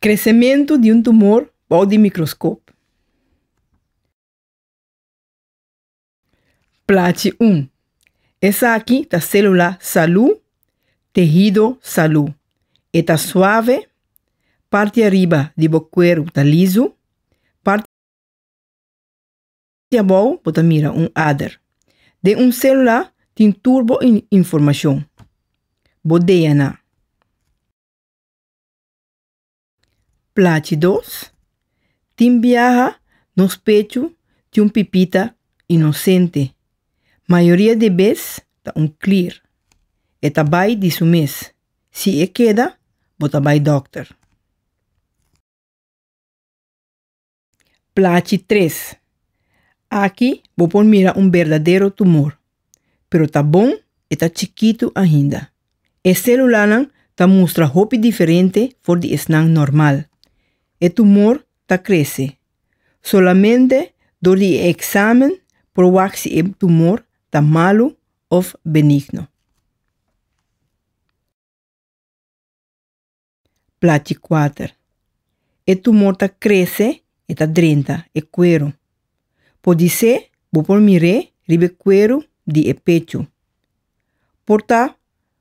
Kresementu di un tumor bou di mikroskop. Plachi 1. Esaki ta sélula salú, tehido salú. E ta suave, parti ariba di bo kueru ta lisu, Di abou bo ta mira un ader. Den un celula tin tur bo informacion. Bo DNA. Plachi dos, Tin biaha nos pechu di un pipita inocente. Mayoria di e bes ta un clear. E ta bai di su mes. Si e keda, bo ta bai dokter. Plachi tres. Aki bo por mira un berdadero tumor, pero ta bon e ta chikitu ainda. E selulanan ta mustra hopi diferente for di esnan normal. E tumor ta krese. Solamente dor di e eksamen por wak si e tumor ta malu òf benigno. Plachi kuater. E tumor ta krese, e ta drenta e kueru. Por di se bo por mir'é riba e kueru di e pechu. Por ta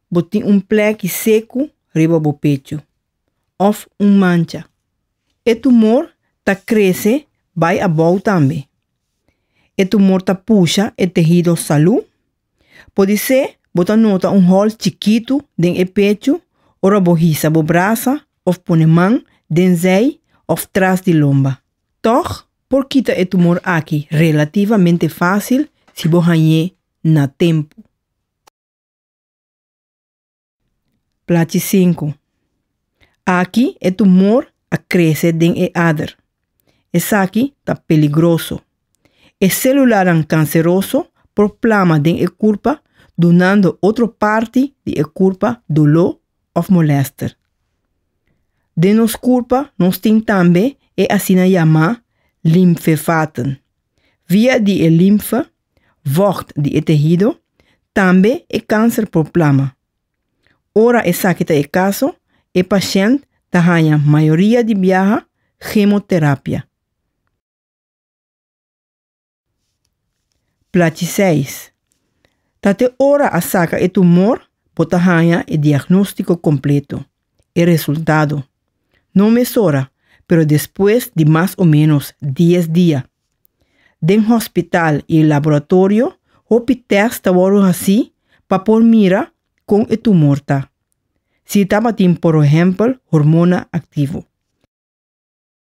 bo tin un plèki seku riba bo pechu, òf un mancha. E tumor ta krese bai abou tambe. E tumor ta pusha e tehido salú. Podisé bo ta nota un hòl chikitu den e pechu ora bo hisa bo brasa òf pone man den zèi òf tras di lomba. Tòg, por kita e tumor akí relativamente fásil si bo hañ'é na tempu. Plachi sinku. Aki e tumor a krese den e ader. Esaki ta peligroso. E selulanan kanseroso por plama den e kurpa dunando otro parti di e kurpa doló òf molèster. Den nos kurpa nos tin tambe e asina yamá limfevaten. Via di e limfe vògt di e tehido, tambe e kanser por plama. Ora esaki ta e kaso, e pashènt ta haña mayoria di biaha gemoterapia. Plachiseis. Ta te ora a saka e tumor bo ta haña e diagnóstiko kompleto. e resultado. No mesora, pero despues di mas o ménos dies dia. Den hospital i laboratorio hopi tèst ta wòrdu hasí pa por mira kon e tumor ta, si e tabatin porohèmpel hormona aktivo.